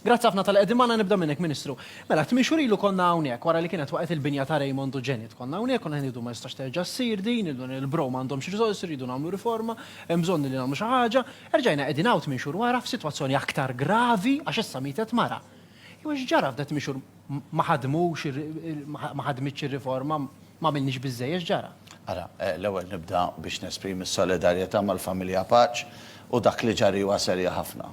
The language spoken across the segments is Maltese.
Grazzi ħafna tal qegħdin magħna nibda minnek Ministru. Mela, tmixur ilu konna hawnhekk wara li kienet waqgħet il-binja ta' Raymond u Janet. Konna hawnhekk konna ngħidu ma jistax terġa' ssir din, il-bro m'għandhomx riżorsi rridu nagħmlu riforma, hemm bżonn li nagħmlu xi ħaġa. Erġajna qegħdin hawn tmien xhur wara f'sitwazzjoni aktar gravi għax issa mietet mara. Jew x'ġara f'da tmien xhur ma ħadmux ma ħadmitx ir-riforma, ma għamilniex biżżejjed x'ġara? Ara, l-ewwel nibda biex nesprimi s-solidarjetà mal-familja Paċ u dak li ġar hiwa serja ħafna.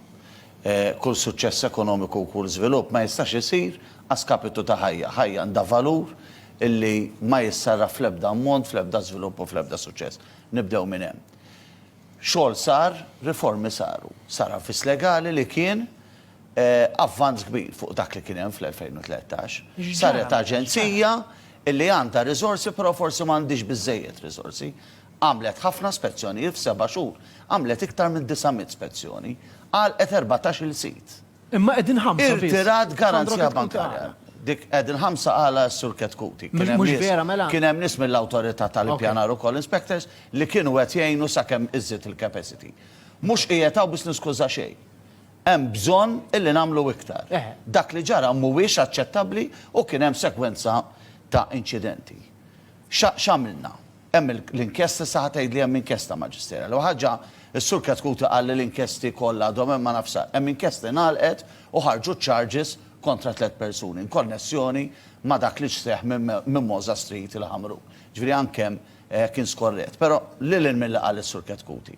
Kull suċċess ekonomiku u kull żvilupp ma jistax isir a skapitu ta' ħajja. Ħajja għandha valur li ma jissarraf fl-ebda ammont, fl-ebda żvilupp u fl-ebda suċċess. Nibdew minn hemm. Xogħol sar, riformi saru. Sar avviż legali li kien avvanz kbir fuq dak li kien hemm fl-2013. Saret aġenzija li għandha riżorsi però forsi ma għandhiex biżżejjed riżorsi. Għamlet ħafna spezzjonijiet f'seba' xhur. Għamlet iktar minn 900 spezzjoni. Għalqet erbatax-il sit. Imma qegħdin ħamsa biss. Irtirat garanzija bankarja. Dik qegħdin ħamsa qala s-Sur Ketkuti. Kien hemm nies, kien hemm nies mill-Awtorità tal-Ippjanar ukoll, inspectors, li kienu qed jgħinu sakemm iżżid il-capacity. Mhux qiegħed hawn biex niskuża xejn. Hemm bżonn illi nagħmlu iktar. Dak li ġara mhuwiex aċċettabbli u kien hemm sekwenza ta' inċidenti. X'għamilna? Hemm l-inkjesta, issa ħa tgħidli hemm inkjesta Maġisterjali. L-ewwel ħaġa, is-Sur Chetcuti qal li l-inkjesti kollha għadhom hemm ma nafx sa. Hemm inkjesta ngħalqet u ħarġu charges kontra tliet persuni inkonnessjoni ma' dak li seħħ minn Mimosa Street il-Ħamrun. Ġifieri anke hemm kien skorrett. Però lil hinn milli qal is-Sur Chetcuti.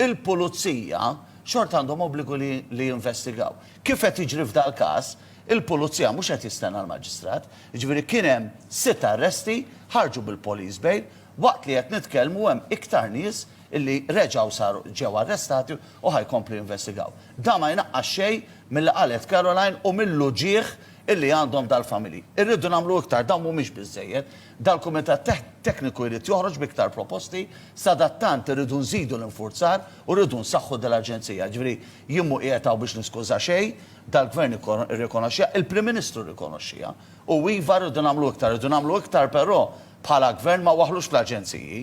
il-pulizija xorta għandhom obbligu li jinvestigaw. Kif qed jiġri f'dal-każ, il-pulizija mhux qed jistenna l-maġistrat. Jiġifieri kien hemm sitt arresti, ħarġu bil-police bail, waqt li qed nitkellmu hemm iktar nies li reġgħu saru ġew arrestati u ħa jkomplu jinvestigaw. Dan ma jnaqqas xejn milli qalet Caroline u mill-uġigħ li għandhom dal-familji. Irridu nagħmlu iktar, dawn mhumiex biżżejjed. Dal-Kumitat Tekniku jrid joħroġ b'iktar proposti, sadattant irridu nżidu l-infurzar u rridu nsaħħu dil-aġenzija. Jiġifieri jien mhu qiegħed hawn biex niskuża xejn, dal-Gvern irrikonoxxiha, il-Prim Ministru rrikonoxxiha. U iva rridu nagħmlu iktar, irridu nagħmlu iktar però bħala Gvern ma waħħlux fl-aġenziji.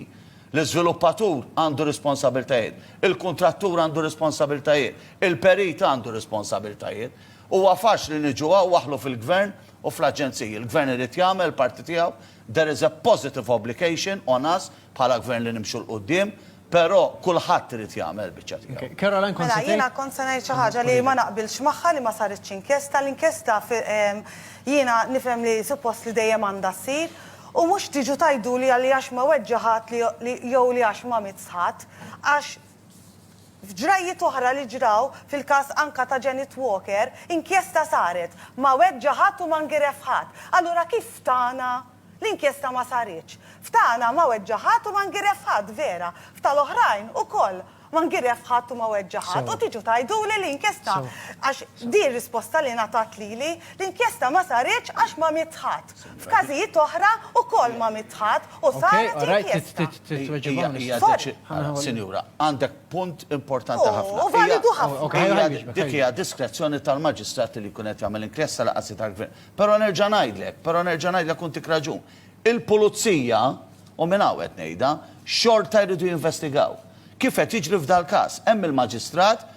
L-iżviluppatur għandu responsabiltajiet, il-kuntrattur għandu responsabiltajiet, il-perit għandu responsabiltajiet. Huwa faċli niġu hawn waħħlu fil-Gvern u fl-aġenziji. Il-Gvern irid jagħmel il-parti tiegħu. There is a positive obligation on us bħala Gvern li nimxu 'l quddiem, però kulħadd irid jagħmel il-biċċa tiegħu. Caroline kont se tgħid? Mela jiena kont se ngħid xi ħaġa li ma naqbilx magħha li ma saritx inkjesta. L-inkjesta jiena nifhem li suppost li dejjem għandha ssir u mhux tiġu tgħiduli li għax ma weġġa' ħadd jew li għax ma miss ħadd għax F'ġrajjiet oħra li ġraw, fil-każ anka ta' Janet Walker, inkjesta saret, ma weġġa' ħadd u ma ngiref ħadd. Allura kif f'tagħna l-inkjesta ma saritx? F'tagħna ma weġġa' ħadd u ma ngiref ħadd, vera. F'tal-oħrajn ukoll ma ngiref ħadd u ma weġġa' ħadd. U tiġu tgħiduli li inkjesta, għax din risposta li ngħatat lili, l-inkjesta ma saritx għax ma miet ħadd. F'każijiet oħra wkoll ma mitħad u saret inkjesta. Sorry. Sinjura, għandek punt importanti ħafna. U validu ħafna. Dik hija diskrezzjoni tal-Maġistrat li jkun qed jagħmel inkjesta lanqas hi tal-Gvern. Però nerġa' ngħidlek, però nerġa' ngħidlek u ntik raġun. Il-Pulizija, u minn hawn qed ngħidha, xorta jridu jinvestigaw. Kif qed jiġri f'dal-każ. Hemm il-Maġistrat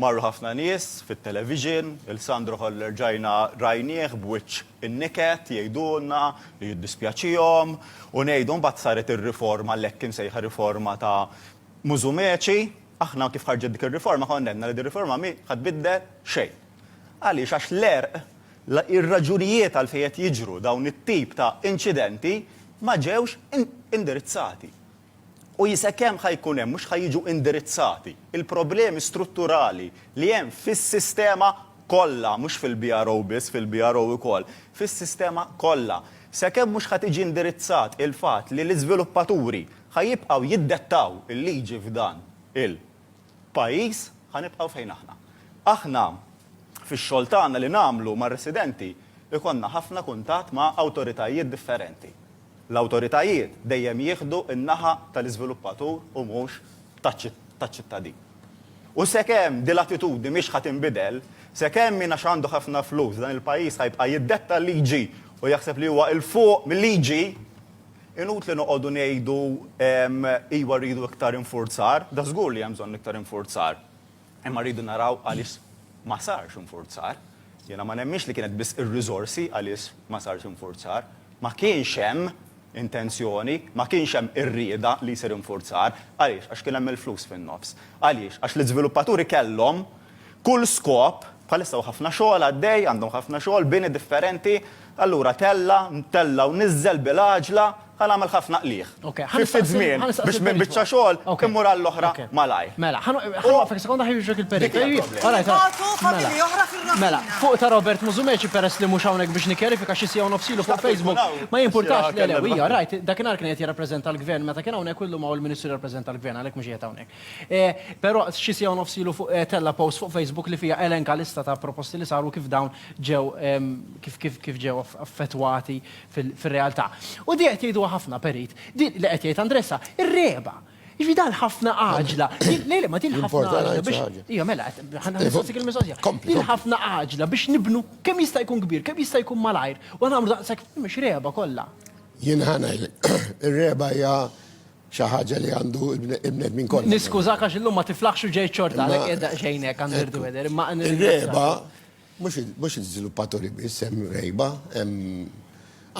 Marru ħafna nies fit-television, il Sandro Holler rġajna rajnieh b'wiċċ inniket jgħidulna li jiddispjaċihom u ngħidu mbagħad saret ir-riforma l-hekk imsejħa riforma ta' Musumeci. Aħna kif ħarġet dik ir-riforma konna għedna li din riforma mhi ħa tbiddel xejn. Għaliex għax l-għerq, ir-raġunijiet għalfejn qed jiġru dawn it-tip ta' inċidenti ma ġewx indirizzati. U jisek hemm ħa jkun hemm, mhux ħa jiġu indirizzati l-problemi strutturali li hemm fis-sistema kollha, mhux fil-BRO biss, fil-BRO ukoll, fis-sistema kollha. Sakemm mhux ħa tiġi indirizzat il-fatt li l-iżviluppaturi ħa jibqgħu jiddettaw il-liġi f'dan il-pajjiż, ħa nibqgħu fejn aħna. Aħna fix-xogħol tagħna li nagħmlu mar-residenti jkollna ħafna kuntatt ma' awtoritajiet differenti. L-awtoritajiet dejjem jieħdu n-naħa tal-iżviluppatur u mhux taċ-ċittadin. U sekemm din l-attitudni mhix ħa tinbidel, sekemm min għax għandu ħafna flus f'dan il-pajjiż ħa jibqa' jiddetta l-liġi u jaħseb li huwa 'l fuq mil-liġi, inutli noqogħdu ngħidu, iva rridu iktar infurzar, dażgur li hemm bżonn iktar infurzar. Imma rridu naraw għaliex ma sarx infurzar. Jiena ma nemminx li kienet biss ir-riżorsi għaliex ma sarx infurzar. Ma kienx hemm intenzjoni, ma kienx hemm ir-rieda li jsir infurzar. Għaliex? Għax kien hemm il-flus fin-nofs. Għaliex? Għax l-iżviluppaturi kellhom kull skop, bħalissa hu ħafna xogħol għaddej, għandhom ħafna xogħol, bini differenti, allura tella', tella' u niżżel bil-għaġla, Ħa nagħmel ħafna qligħ. Fi ftit żmien biex minn biċċa xogħol immur għall-oħra malajr. Mela, ħa noqgħodlek sekonda ħa jiġrek il-periklu. Mela, fuq ta' Robert Musumeci peress li mhux hawnhekk biex nikkjarifika xi siegħa u nofs ilu fuq Facebook ma jimpurtax li le hija rajt dakinhar kien qed jirrappreżenta l-Gvern meta kien hawnhekk u llum hawn il-Ministru jirrappreżenta l-Gvern għalhekk mhux qiegħed hawnhekk. Però xi siegħa u nofs ilu fuq tella' post fuq Facebook li fiha elenka lista ta' proposti li saru kif dawn ġew kif ġew affettwati fir-realtà. U di qed jgħiduha ħafna perit, di li qed jgħid Andressa, ir-regħba. Jiġri dan ħafna għaġla. Lejle ma din ħafna għaġla biex. Ija mela, ħanħassik il-mistoqsija. Din ħafna għaġla biex nibnu kemm jista' jkun kbir, kemm jista' jkun malajr, u nagħmlu daqshekk mhux regħba kollha. Jien ħanajlek, ir-regħba hija xi ħaġa li għandu l-bnedmin kollha. Niskużak għax illum ma tiflaħx u ġejt xorta, għalhekk qiegħed daqsxejn hekk għandirdu weder, imma. Ir-regħba Mhux l-iżviluppaturi biss, hemm rgħiba, hemm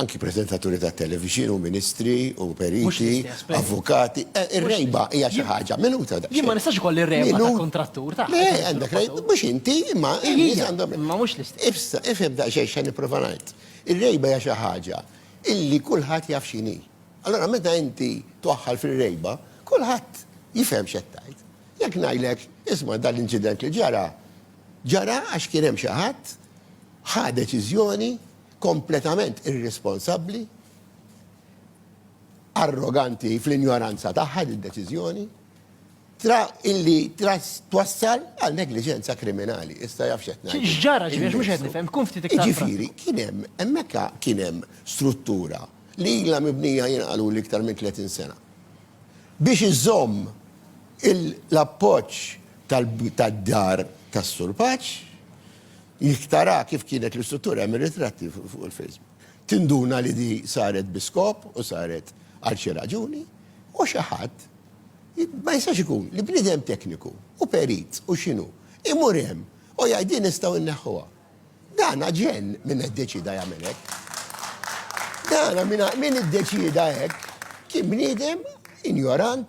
anki preżentaturi tat-televixin u ministri u periti, avukati. Ir-rgħiba hija xi ħaġa. Minuta daqsxejn. Jien ma nistax ikolli r-rgħiba ta' kuntrattur ta'. Le, għandek rgħiba, mhux inti, imma in-nies għandhom. Imma mhux l-istess. Issa, ifhem daqsxejn x'qed nipprova ngħid. Ir-rgħiba hija xi ħaġa illi kulħadd jaf x'inhi. Allura meta inti twaħħal fir-rgħiba, kulħadd jifhem x'qed tgħid. Jekk ngħidlek, isma' dan l-inċident li ġara, Ġara għax kien hemm xi ħadd ħa deċiżjoni kompletament irresponsabbli, arroganti fl-injoranza tagħha din deċiżjoni, tra illi tras twassal għal negliġenza kriminali. Issa jaf x'qed ngħid. X'ġara ġifieri mhux qed nifhem, tkun ftit iktar. Jiġifieri kien hemm hemmhekk kien hemm struttura li ilha mibnija jien qaluli iktar minn 30 sena biex iżżomm L-appoġġ tad-Dar tas-Sur Paċ jekk tara kif kienet l-istruttura, hemm ir-ritratti fuq il-Facebook, tinduna li di saret bi skop u saret għal xi raġuni u xi ħadd ma jistax ikun li bniedem tekniku u perit u x'inhu imur hemm u jgħid din nistgħu nneħħuha. Dan aġenn min iddeċieda jagħmel hekk. Dan min iddeċieda hekk kien bniedem injorant.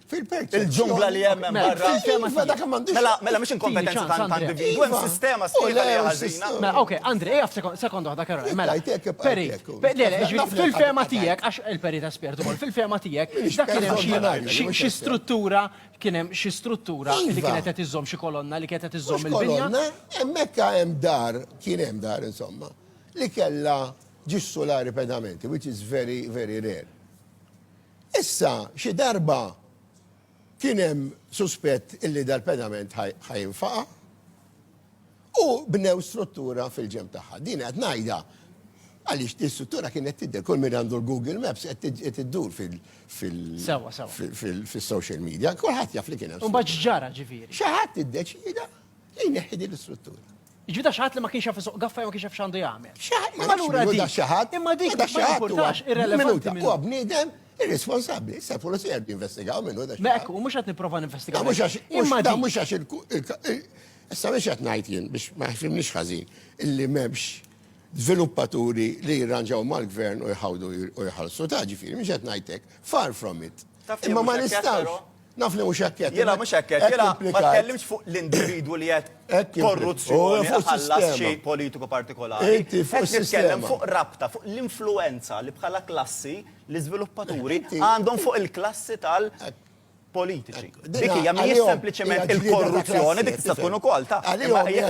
Fil-perċezzjoni. Il-ġungla li hemm hemm barra. Fil-fema sa dak m'għandix. Mela, mela mhix inkompetenza ta' ta' individwu, hemm sistema sħiħa li ħażina. Mela, ok, Andri, ejja f'sekond, sekond waħda Karol. Mela, peri, le, le, fil-fema tiegħek, għax il-peri ta' spjert ukoll, fil-fema tiegħek, dak kien hemm xi struttura, kien hemm xi struttura li kienet qed iżżomm xi kolonna li kienet qed iżżomm il-binja. Kolonna, hemmhekk hemm dar, kien hemm dar insomma, li kellha ġissu solari pedamenti, which is very, very rare. Issa, xi darba kien hemm suspett illi dal-pedament ħa jinfaqa', u bnew struttura fil-ġenb tagħha. Din qed ngħidha għaliex din struttura kienet tidher, kull min għandu l-Google Maps qed iddur fil-social media, kulħadd jaf li kien hemm. U mbagħad x'ġara ġifieri? Xi ħadd iddeċieda. Li jneħħi din l-istruttura. Ġi da xaħat li ma kienx jaf suq gaffa ma kienx jaf xandu jagħmel. Imma lura dik. Imma dik da xaħat irrelevanti. Huwa bniedem irresponsabbli. Issa l-pulizija qed jinvestigaw minnu da xaħat. Mekk, u mhux qed nipprova ninvestigaw. Imma da mhux għax il Issa biex qed ngħid jien biex ma jfimniex ħażin illi m'hemmx żviluppaturi li jirranġaw mal-gvern u jħawdu u jħallsu ta' ġifieri mhux qed ngħidlek far from it. Imma ma nistax. Naf li mhux hekk qed. Jiena mhux hekk qed. Jiena ma tkellimx fuq l-individwu li qed korruzzjoni ħallas xi politiku partikolari. Inti fuq is-sistema. Qed nitkellem fuq rabta, fuq l-influwenza li bħala klassi l-iżviluppaturi għandhom fuq il-klassi tal- politiċi. Dik hija mhijiex sempliċement il-korruzzjoni, dik tista' tkun ukoll ta'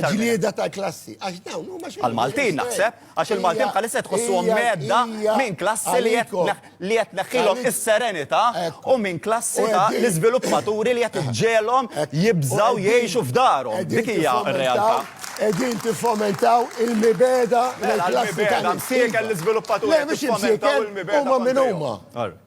ġlieda ta' klassi. Għax dawn huma xi. Għal-Maltin naħseb. Għax il-Maltin bħalissa qed iħossuhom mhedda minn klassi li qed li qed tneħħilhom is-serenità u minn klassi ta' l-iżviluppaturi li qed iġġegħelhom jibżgħu jgħixu f'darhom. Dik hija r-realtà. Qegħdin tiffomentaw il-mibegħda Mela l-klassi ta' l-imsieka. l-iżviluppaturi qed jiffomentaw il-mibegħda. Huma min huma?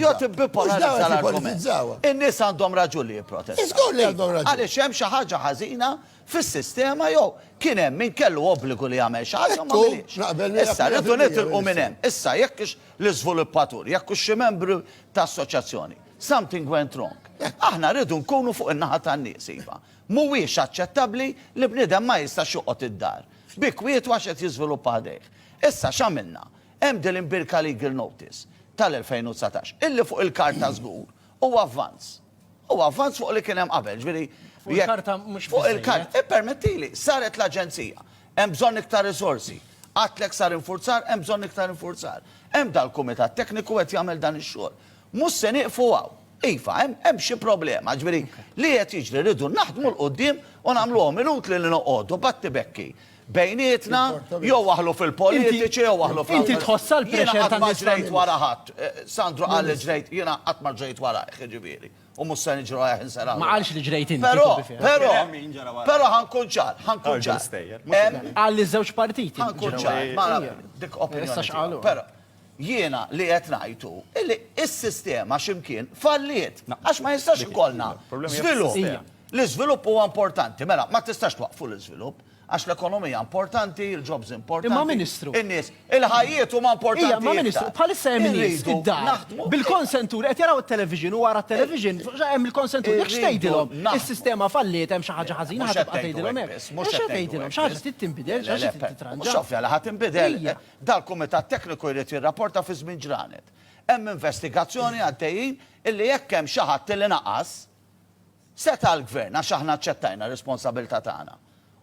Jo tibbipolarissa l-argument. In-nies għandhom raġun li jipprotestaw. Żgur li għandhom raġun. Għaliex hemm xi ħaġa ħażina fis-sistema jew kien hemm min kellu obbligu li jagħmel xi ħaġa u ma għamilhiex. Issa rridu nitilqu minn hemm. Issa jekk hux l-iżviluppatur, jekk hux xi membru ta' assoċjazzjoni, something went wrong. Aħna rridu nkunu fuq in-naħa tan-nies iva. Mhuwiex aċċettabbli li bniedem ma jistax joqgħod id-dar bi kwietu għax qed jiżviluppa ħdejh. Issa x'għamilna? Hemm din l-imbirka legal notice tal-2019, illi fuq il-karta żgur hu avvanz. Hu avvanz fuq li kien hemm qabel, ġifieri Fuq jekk- il-karta mhux Fuq biżżejjed. il-karta, ippermettili, saret l-Aġenzija, hemm bżonn iktar riżorsi. Għadtlek sar infurzar, hemm bżonn iktar infurzar. Hemm dal-kumitat tekniku qed jagħmel dan ix-xogħol. Mhux se nieqfu hawn. Iva, hemm hemm xi problema, ġifieri li qed jiġri, rridu naħdmu 'l quddiem u nagħmluhom inutli li noqogħdu b'attibekki. bejnietna, jew waħlu fil-politiċi, jew waħlu fl Inti tħossha l-pressure ta' nies ġrejt wara ħadd. Eh, Sandro qal li ġrejt, jiena qatt ma ġrejt wara, ġifieri. U mhux se niġru għajh insera. Ma qalx li ġrejt inti. Però, però, però ħankun ċar, ħankun ċar. Qal li żewġ partiti. Ħankun ċar, ma dik opinjoni. Però, jiena li qed ngħidu illi s-sistema x'imkien falliet għax ma jistax ikollna żvilupp L-iżvilupp huwa importanti, mela, ma tistax twaqqfu l-iżvilupp, għax l-ekonomija importanti, il-jobs importanti. Imma Ministru. In-nies, il-ħajjiet huma importanti. Ija, imma Ministru, bħalissa hemm nies id-dar, bil-konsentur, qed jaraw it-television u wara t-television hemm il-konsentur. Jekk xi tgħidilhom, is-sistema falliet, hemm xi ħaġa ħażina, ħa tibqa' tgħidilhom hekk. Mhux se tgħidilhom, xi ħaġa trid tinbidel, xi ħaġa trid titranġa. Mhux ovvja li ħa tinbidel. Dal-kumitat tekniku jrid jirrapporta fi żmien ġranet. Hemm investigazzjoni għaddejjin illi jekk hemm xi ħadd illi naqas, Seta' l-Gvern, għax aħna aċċettajna r-responsabilità tagħna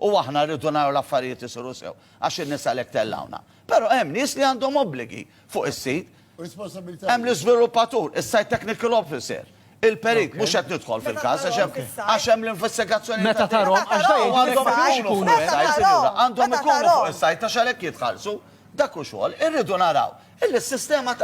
u aħna rridu naraw l-affarijiet isiru sew, għax in-nies għalhekk tellgħuna. Però hemm nies li għandhom obbligi fuq is-sit. Hemm l-iżviluppatur, is-site technical officer, il-perit, mhux qed nidħol fil-każ għax hemm għax hemm l-investigazzjoni ta' din. Meta tarahom għandhom ikunu fuq is-site, sinjura, għandhom ikunu fuq is-site għax għalhekk jitħallsu. Dak hu xogħol. Irridu naraw illi s-sistema ta'